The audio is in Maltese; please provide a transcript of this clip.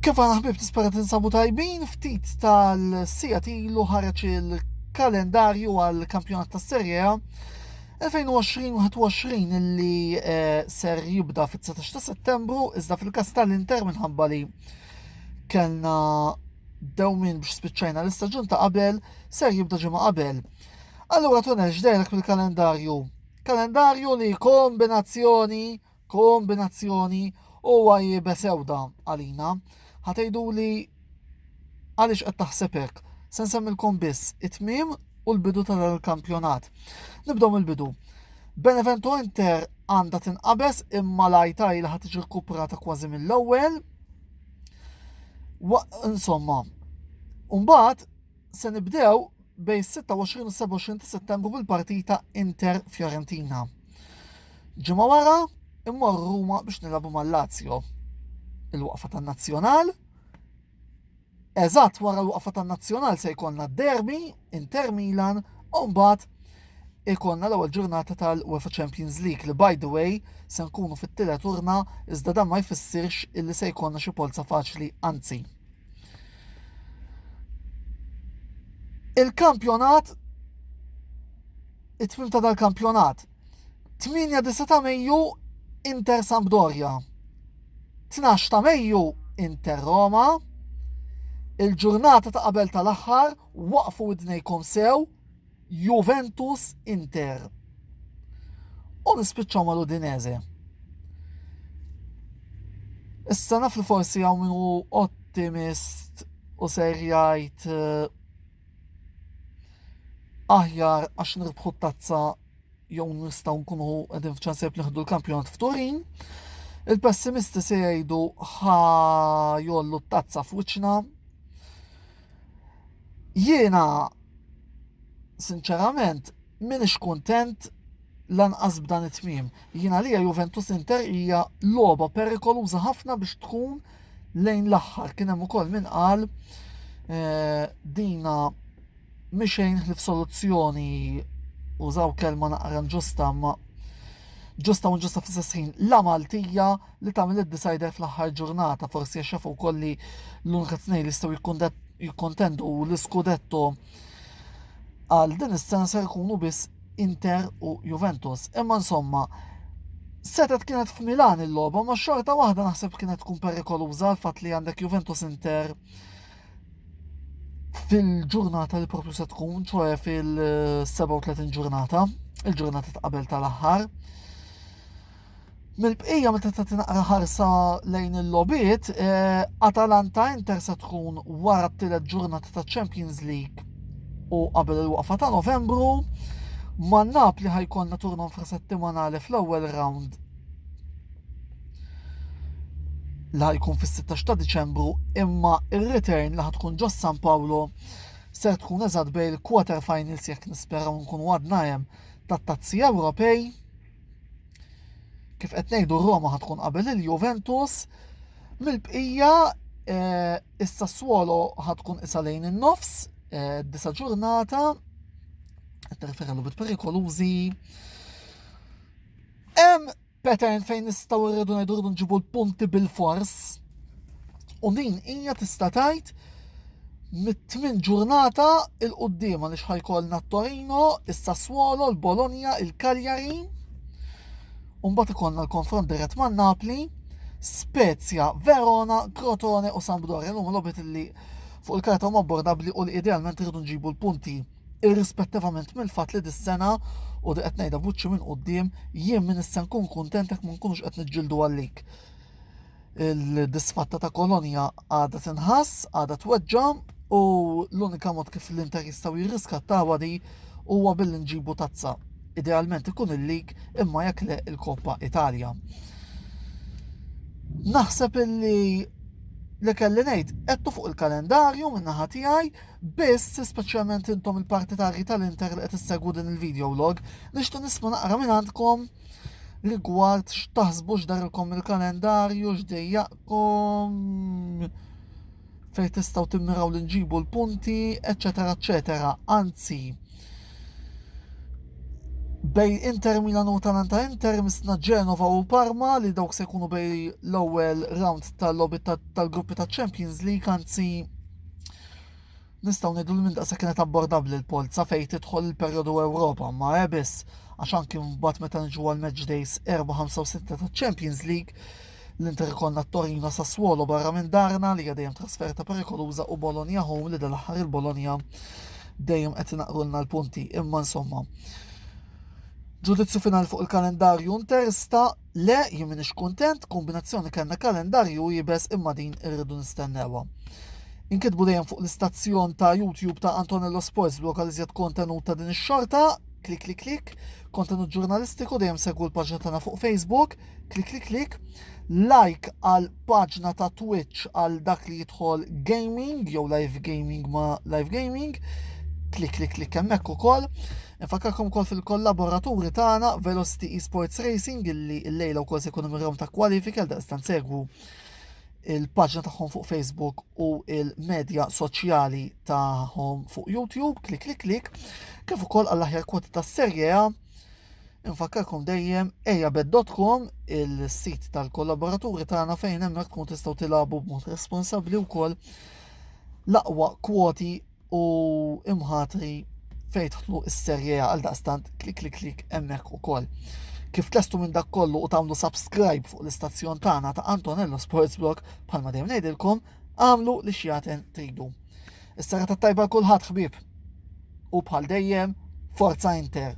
Kif aħna ħbib nispera tinsabu tajbin, ftit tal-sijat ilu ħareġ il-kalendarju għal kampjonat ta' Serie A 2020-21 illi eh, ser jibda fit-19 ta' settembru, iżda fil-kas tal-Inter minħabba li kellna dewmin biex spiċċajna l-istaġun ta' qabel, ser jibda ġimgħa qabel. Allura tunex dejlek fil-kalendarju. Kalendarju li kombinazzjoni kombinazzjoni u għajjiba sewda għalina. Ħatejdu li għaliex qed taħseb hekk. Se nsemmilkom biss it-tmiem u l-bidu ta' dan il-kampjonat. Nibdew mill-bidu. Benevento Inter għandha tinqabes imma lajta il ħad tiġi rkuprata kważi mill-ewwel. Insomma, Umbat, Se nibdew bejn 26 u 27 ta' Settembru bil-partita Inter Fiorentina. Ġimgħa wara immorru Ruma biex nilagħbu mal-Lazio. Il-waqfa tan-Nazzjonal Eżatt wara l-waqfa tan-Nazzjonal se jkollna derby Inter Milan u mbagħad ikollna l-ewwel ġurnata tal-UEFA Champions League li by the way se nkunu fit-tielet urna iżda dan ma jfissirx illi se jkollna xi polza faċli anzi. Il-kampjonat it-tmim ta' dal-kampjonat 8 ta' Mejju Inter Sampdoria 12 ta' Mejju Inter Roma il-ġurnata ta' qabel tal-aħħar waqfu id-dnejkom sew Juventus Inter u nispiċċaw mal-Udinese. Issa naf li forsi għaw minn u ottimist u ser jgħid eh, aħjar għax nirbħu tazza jew nistgħu nkunu qegħdin f'ċanseb nieħdu l-kampjonat f'Turin. Il-pessimisti se jgħidu ħa jollu t-tazza f'wiċċna Jiena sinċerament minix kuntent lanqas b'dan it-tmiem. Jiena lija Juventus Inter hija logħba perikoluża ħafna biex tkun lejn l-aħħar. Kien hemm ukoll min qal eh, dina mixejn ħlif soluzzjoni użaw kelma naqra ġusta ma ġusta u ġusta fis ħin la Maltija li tagħmel id-decider fl-aħħar ġurnata, forsi għax jafu wkoll li l-unika tnejn li jistgħu jikkontendu l-iskudetto għal din is-sena se jkunu biss Inter u Juventus. Imma insomma, setet kienet f'Milan il-logħba, ma xorta waħda naħseb kienet tkun perikoluża għal fatt li għandek Juventus Inter fil-ġurnata li propju se tkun, ċoħe fil-37 ġurnata, il-ġurnata ta' qabel tal-aħħar. Mill-bqija meta tagħti naqra ħarsa lejn il-logħbiet, eh, Atalanta Inter se tkun wara t-tielet ġurnata ta' Champions League u qabel il-waqfa ta' Novembru. Ma' Napli ħajkonna turno infrasettimanali fl-ewwel round li ħajkun fis-16 ta' Diċembru imma ir-return li ħatkun ġo San Paolo ser tkun eżatt bejn il-quarter finals jekk nisperaw nkunu għadna hemm tat-Tazzi Ewropej. Kif qed ngħidu Roma ħad tkun qabel il-Juventus, mill-bqija eh, is-Sassuolo ħad tkun isa lejn in-nofs, eh, disa ġurnata, qed nirreferi bit perikolużi. Hemm pattern fejn nistgħu rridu ngħidu rridu nġibu l-punti bil-fors, U din hija tista' tgħid mit-tmien ġurnata il qudiem għaliex ħajkolna t-Torino, is-Sassuolo, l-Bologna, il-Cagliari. U mbagħad ikollna l-konfront dirett ma' Napli, Spezia, Verona, Crotone u Sampdoria. L-huma lobit li fuq il-karta huma bordabbli u li idealment irridu nġibu l-punti irrispettivament mill-fatt li dis-sena u di qed ngħidha buċċi minn quddiem jien minn issa nkun kuntent jekk ma nkunux qed niġġieldu għalik. il-disfatta ta' kolonja għadha tinħass, għadha tweġġa u l-unika mod kif l-inter jistgħu jirriskattawa di huwa billi nġibu tazza. Idealment ikun il-lig imma jekk le il-Koppa Italja. Naħseb illi li kelli ngħid qedtu fuq il-kalendarju minn naħa tiegħi biss speċjalment intom il-partitarji tal-Inter li qed issegwu din il-video log nixtieq nisma' naqra minn għandkom rigward x'taħsbu x'darilkom il-kalendarju, x'dejjaqkom, fejn tistgħu timmiraw li nġibu l-punti, eċetera, eċetera. Anzi, bej Inter Milan u Atalanta Inter misna Genova u Parma li dawk se jkunu bej l-ewwel round tal-logħbi tal-gruppi ta' Champions League anzi Nistgħu ngħidu li minn daqshekk kienet abbordabbli l-polza fejn tidħol il-perjodu Ewropa, ma he biss, għax anki mbagħad meta niġu għal match days 4, 5 u 6 taċ-Champions League, l-Inter ikollna t-Torino Sassuolo barra minn darna li hija dejjem trasferta perikoluża u Bologna home li dal-aħħar il-Bologna dejjem qed inaqrulna l-punti. Imma insomma, ġudizzju finali fuq il-kalendarju Inter sta Le jien minix kuntent, kombinazzjoni kellna kalendarju jibes imma din irridu nistennewha. Inkitbu dejjem fuq l-istazzjon ta' YouTube ta' Antonello Sports blok għal iżjed kontenut ta' din ix-xorta, klik klik klik, kontenut ġurnalistiku dejjem segwu l-paġna tagħna fuq Facebook, klik klik klik, like għal paġna ta' Twitch għal dak li jidħol gaming jew live gaming ma' live gaming, klik klik klik hemmhekk ukoll. Infakkarkom ukoll fil-kollaboraturi tagħna Velocity Esports Racing illi llejla wkoll se jkunu mirjom ta' kwalifiki għal daqstant segwu il-paġna tagħhom fuq Facebook u il-medja soċjali tagħhom fuq YouTube, klik klik klik, kif ukoll għall-aħjar kwoti tas-Serje A. Infakkarkom dejjem ejabed.com il-sit tal-kollaboraturi tagħna fejn hemmhekk tkun tistgħu tilagħbu b'mod responsabbli wkoll l-aqwa kwoti u imħatri fejn tħlu s-serje għal daqstant klik klik klik hemmhekk ukoll. Kif tlestu minn dak kollu u tagħmlu subscribe fuq l-istazzjon tagħna ta' Antonello Sports Blog bħalma dejjem ngħidilkom, għamlu li xjaten tridu. Is-sara tajba kulħadd ħbieb. U bħal dejjem, forza Inter!